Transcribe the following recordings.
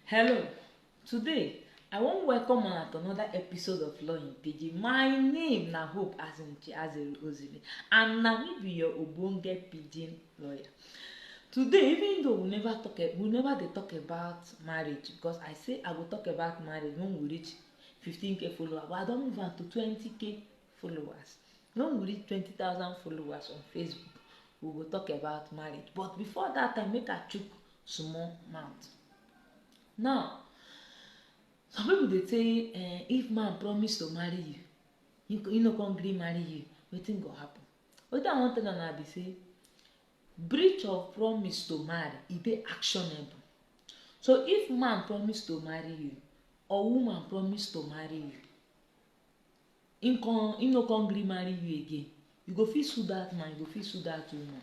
Hello, today I wan welcome una to another episode of Law in Pidgin. My name na Hope Azinche Azerugozile and na me be your ogbonge pidgin lawyer. Today even though we never talk a- we never dey talk about marriage because I say I go talk about marriage when we reach 15k follower but I don move am to 20k followers when we reach twenty thousand followers on facebook we go talk about marriage but before that time make i chook small mouth now some people dey say eh, if man promise to marry you he, he no come gree marry you wetin go happen wetin i wan tell una be say breach of promise to marry e dey actionable so if man promise to marry you or woman promise to marry you Him come, him no come gree marry you again. You go fit sue that man, you go fit sue that woman.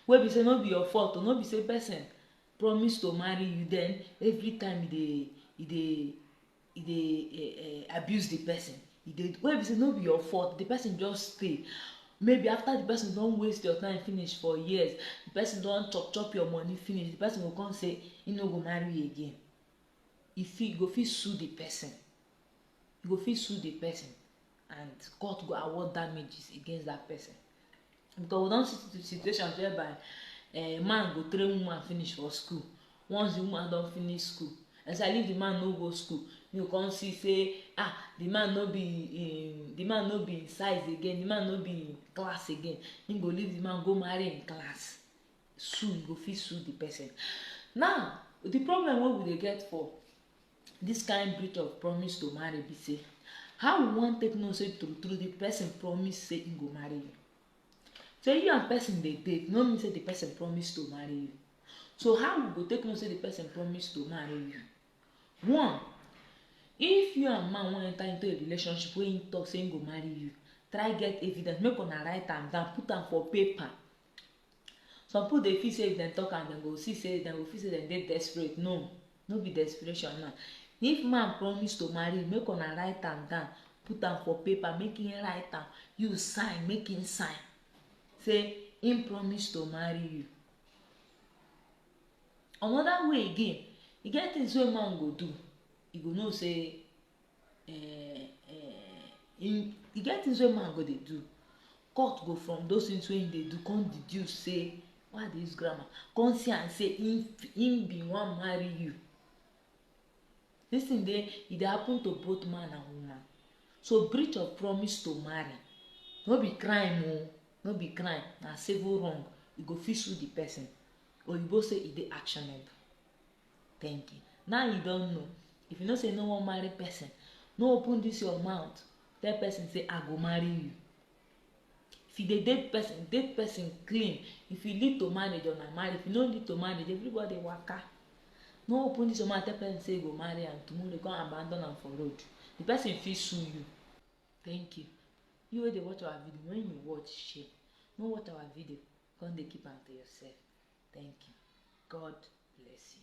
Wey be say no be your fault, no be say person promise to marry you then every time you dey you dey e dey eh, eh, abuse the person e dey wey be say no be your fault the person just stay maybe after the person don waste your time finish for years the person don chop chop your money finish the person go come say he no go marry again e fit go fit sue the person, e go fit sue the person and court go award damages against that person because we don see situations whereby a eh, man go train woman finish for school once the woman don finish school especially if the man no go school you come see say ah the man no be in the man no be in size again the man no be in class again he go leave the man go marry in class sue you go fit sue the person now the problem wey we dey get for this kind breach of promise to marry be say how we wan take know say true true the person promise say he go marry you so you and person dey date no mean say the person promise to marry you so how we go take know say the person promise to marry you one if you and man wan enter into a relationship wey him talk say him go marry you try get evidence make una write am down put am for paper Some pipu dey feel sey if dem talk am dem go see sey dem go feel sey dem dey desperate. No, no be desperation now. If man promise to marry you, make una write am down, put am for paper, make im write am, you sign, make im sign sey im promise to marry you. Another way again, e get things wey man go do, you go know sey eh, eh, in, e get things wey man go dey do court go from those things wey he dey do come deduce say why dey use grammar come see am say him him bin wan marry you this thing dey e dey happen to both man and woman so breach of promise to marry no be crime o no be crime na civil wrong you go fit sue the person oyibo say e dey actionable thank you now you don know if you know say you no wan marry person no open this your mouth tell person say i go marry you if you dey date person date person clean if you lead to marriage una marry if you no lead to marriage everybody waka no open this your mouth tell person say you go marry am tomorrow come abandon am for road the person fit sue you thank you you wey dey watch our video when you watch shame no watch our video Come dey keep am to yourself. Thank you. God bless you.